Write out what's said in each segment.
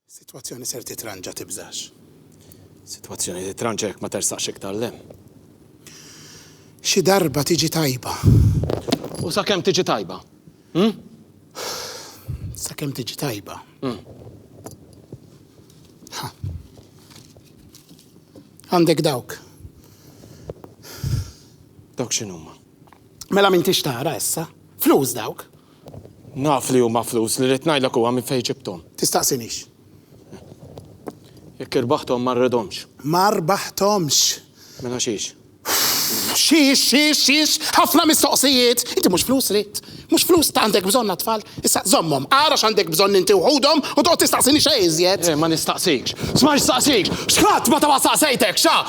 Sitwazzjoni ser titranġa tibżax. Sitwazzjoni titranġa jekk ma tersaqx iktar 'l hemm. Xi darba tiġi tajba. U sakemm tiġi tajba? Hm? Sakemm tiġi tajba. Hm. Għandek dawk. Dawk x'inhuma? Mela m'intix tara issa. Flus dawk. Naf li huma flus, li rrid ngħidlek huwa minn fejn ġibthom. Tistaqsinix. Jekk irbaħthom ma rridhomx. Ma rbaħthomx! Mela xiex? Xiex, xiex, xiex? Ħafna mistoqsijiet! Inti mhux flus ridt. Mhux flus għandek bżonn għat-tfal. Issa żommhom, ara x'għandek bżonn inti u ħudhom u toqgħod tistaqsini xejn iżjed. Le, ma nistaqsikx. Sma' x'saqsik! X'ħadd ma ta' ma staqsejtek, xa!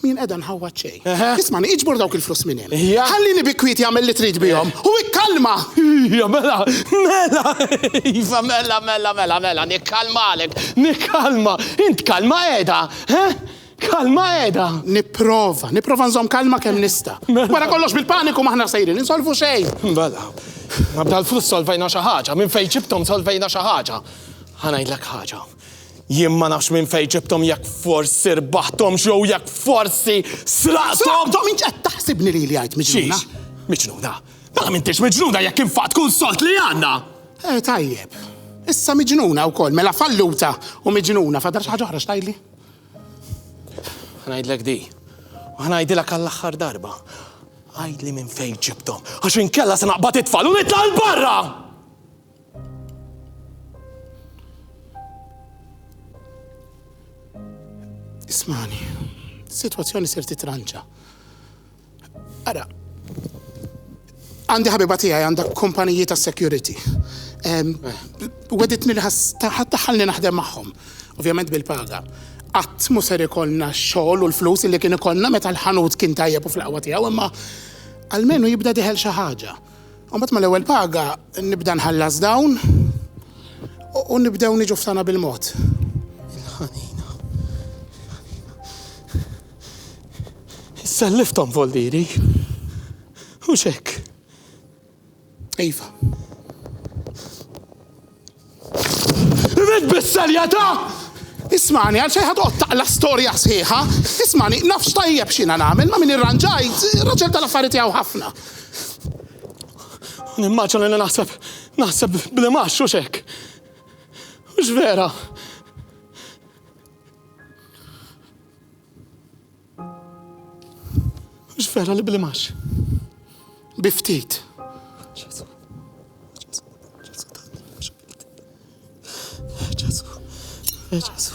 Min qiegħda nħawwad xejn. Ismani, iġbor dawk il-flus minn hemm. Ħallini bi kwieti għamel li trid bihom u ikkalma! Ija, mela, mela, iva, mela, mela, mela, mela, nikkalmalek, nikkalma. Int kalma qiegħda, he? Kalma qiegħda. Nipprova, nipprova nżomm kalma kemm nista'. Wara kollox bil-paniku m'aħna sejrin insolvu xejn. Mela, ma b'dal-flus solvejna xi ħaġa, minn fejn ġibthom solvejna xi ħaġa. Ħa ngħidlek ħaġa. Jien ma nafx minn fejn ġibthom jekk forsi rbaħthomx jew jekk forsi sraqthom! Sraqthom int qed taħsibni lili għid miġnuna? Xiex? Miġnuna? Mela m'intix miġnuna jekk infaqt kull sold li għandna! Eh tajjeb. Issa miġnuna wkoll, mela falluta u miġnuna, fadal xi ħaġa oħra x'tgħidli? Ħa ngħidlek di. U ħa ngħidilek għall-aħħar darba. Għidli minn fejn ġibthom, għax inkella se naqbad it-tfal u nitla' 'l barra! Ismani, situazzjoni ser titranċa. Ara, għandi ħabiba tiegħi għandha kumpaniji ta' security. Weditni li ħattaħalni naħdem magħhom, ovvjament bil-paga. Qatt mu ser ikollna xogħol u l-flus li kien ikollna meta l-ħanut kien tajjeb u fl-qawwa tiegħu, imma għalmenu jibda diħel xi ħaġa. U mbagħad mal-ewwel paga nibda nħallas dawn u nibdew niġu ftana bil-mod. Il-ħanina. Selliftom voldiri. U xek. Iva. Rid bis-serjetà! Ismagħni, għalfejn ħa toqgħod taqla' storja sħiħa? Ismagħni, naf x'tajjeb x'jiena nagħmel, ma' min irranġajt, raġel tal-affari tiegħu ħafna. U nimmaġina li naħseb, naħseb bl-imgħax, hux hekk? Hux vera? Mhux vera li blimax. Bi ftit. Ġesu. Ġesu.